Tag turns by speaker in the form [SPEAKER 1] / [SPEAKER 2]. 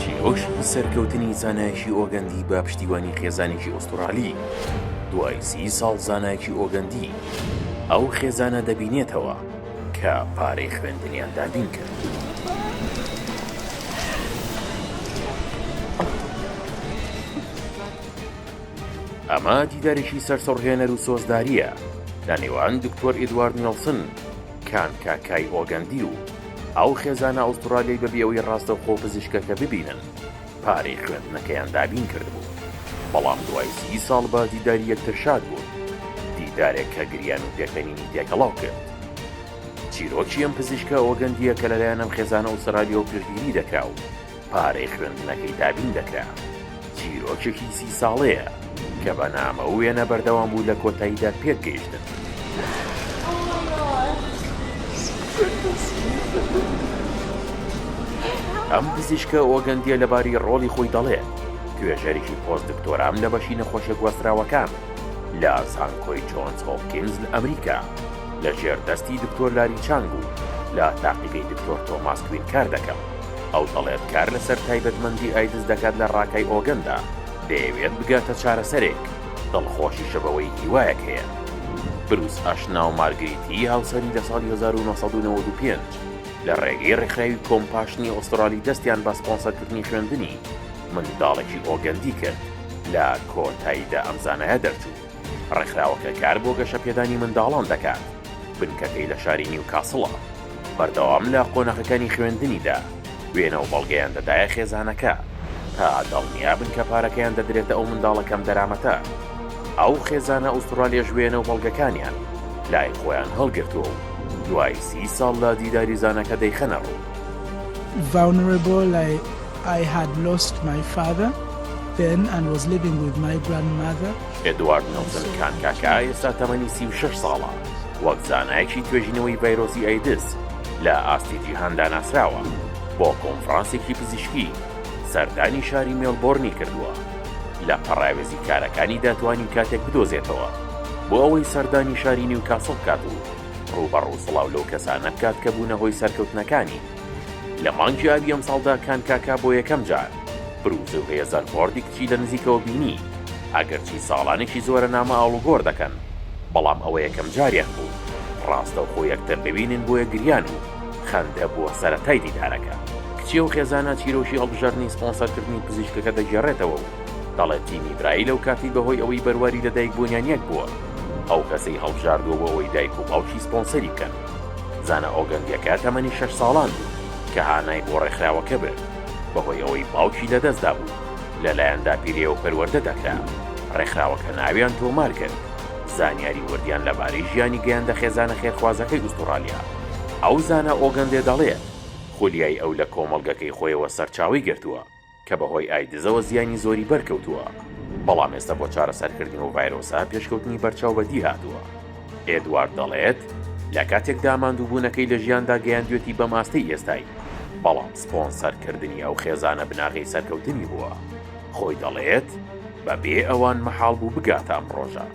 [SPEAKER 1] چیرۆکی سەرکەوتنی زانایەکی ئۆگەندی بە پشتیوانی خێزانێکی ئوستورالی، دوای سی ساڵ زانایەکی ئۆگەندی ئەو خێزانە دەبینێتەوە کە پارەی خوێندنیان دابین کرد. ئەمە دیدارێکی سەرسوڕهێنەر و سۆزدارییە لە نێوان دکتۆر ئیدوارد نێڵسن، کان کا کای ئۆگەندی و ئەو خێزانە ئوستڕالیەی بەبی ئەوەی ڕاستەوخۆ پزیشکەکە ببینن پارەی خوێندنەکەیان دابین کردبوو بەڵام دوای سی ساڵ بە دیداری یەکتر شاد بوون دیدارێک کە گریان و پێکەنینی تێکەڵاو کرد چیرۆکی ئەم پزیشکە ئۆگەندیە کە لەلایەن ئەم خێزانە ئوسترالیەوە پشتگیری دەکرا و پارەی خوێندنەکەی دابین دەکرا. چیرۆکێکی سی ساڵەیە کە بە نامە و وێنە بەردەوام بوو لە کۆتاییدا پێک گەیشتن. ئەم پزیشکە ئۆگەندیە لەباری ڕۆڵی خۆی دەڵێت توێژەرێکی پۆست دکتۆرام لە بەشی نەخۆشە گواستراوەکان لە زانکۆی جۆنس هۆپکینز لە ئەمریکا لە ژێر دەستی دکتۆر لاری چانگ و لە تاقیگەی دکتۆر تۆماس کوین کار دەکەم. ئەو دەڵێت کار لەسەر تایبەتمەندی ئایدز دەکات لە ڕاکای ئۆگەندا، دەیەوێت بگاتە چارەسەرێک، دڵخۆشیشە بەوەی هیوایەک هەیە. بروس ئاشنا و مارگریتی هاوسەری لە ساڵی هەزار و نۆ سەد و نەوەد و پێنج لە ڕێگەی ڕێکخراوی کۆمپاشنی ئوسترالی دەستیان بە سپۆنسەرکردنی خوێندنی منداڵێکی ئۆگەندی کرد، لە کۆتاییدا ئەم زانایە دەرچوو. ڕێکخراوەکە کار بۆ گەشەپێدانی منداڵان دەکات، بنکەکەی لە شاری نیوکاسڵە، بەردەوام لە قۆناغەکانی خوێندنیدا وێنە و بەڵگەیان دەدایە خێزانەکە تا دڵنیابن کە پارەکەیان دەدرێتە ئەو منداڵە کەم دەرامەتە. ئەو خێزانە ئوستڕالیەش وێنە و بەڵگەکانیان لای خۆیان هەڵگرتووە و دوای سی ساڵ لە دیداری زانەکە دەیخەنە ڕوو.
[SPEAKER 2] ڤاونرەبۆ لای I had lost my father then and was living with my grandmother. ئێدوارد نێڵسن
[SPEAKER 1] کانکاکا ئێستا تەمەنی سی و شەش ساڵە، وەک زانایەکی توێژینەوەی ڤایرۆسی ئەیدز لە ئاستی جیهاندا ناسراوە، بۆ کۆنفرانسێکی پزیشکی سەردانی شاری مێڵبۆرنی کردووە، لە پەڕاوێزی کارەکانیدا توانی کاتێک بدۆزێتەوە بۆ ئەوەی سەردانی شاری نیوکاسڵ بکات و ڕووبەڕوو سڵاو لەو کەسانە بکات کە بوونە هۆی سەرکەوتنەکانی. لە مانگی ئابی ئەمساڵدا کان کاکا بۆ یەکەم جار برووزە و هێزەر ڤۆردی کچی لە نزیکەوە بینی، ئەگەرچی ساڵانێکی زۆرە نامە ئاڵوگۆڕ دەکەن، بەڵام ئەوە یەکەم جاریان بوو ڕاستەوخۆ یەکتر ببینن بۆیە گریان و خەندە بووە سەرەتای دیدارەکە. کچی ئەو خێزانە چیرۆکی هەڵبژاردنی سپۆنسەرکردنی پزیشکەکە دەگێڕێتەوە و دەڵێت تیمی برایی لەو کاتەی بەهۆی ئەوەی بەرواری لەدایکبوونیان یەک بووە ئەو کەسەی هەڵبژاردووە بۆ ئەوەی دایک و باوکی سپۆنسەری بکەن. زانا ئۆگەندیەکە تەمەنی شەش ساڵان بوو کە هانای بۆ ڕێکخراوەکە برد، بەهۆی ئەوەی باوکی لەدەستدابوو، لەلایەن داپیرەیەوە پەروەردە دەکرا، ڕێکخراوەکە ناویان تۆمار کرد، زانیاری وردیان لەبارەی ژیانی گەیاندە خێزانە خێرخوازەکەی ئوستوڕالیا. ئەو زانا ئۆگەندێ دەڵێت خولیای ئەو لە کۆمەڵگەکەی خۆیەوە سەرچاوەی گرتووە، کە بەهۆی ئایدزەوە زیانی زۆری بەرکەوتووە، بەڵام ئێستا بۆ چارەسەرکردنی ئەو ڤایرۆسە پێشکەوتنی بەرچاو بەدیهاتووە. ئێدوارد دەڵێت، لە کاتێکدا ماندووبوونەکەی لە ژیاندا گەیاندوێتی بەم ئاستەی ئێستای، بەڵام سپۆنسەرکردنی ئەو خێزانە بناغەی سەرکەوتنی بووە. خۆی دەڵێت، بەبێ ئەوان مەحاڵ بوو بگاتە ئەم ڕۆژە.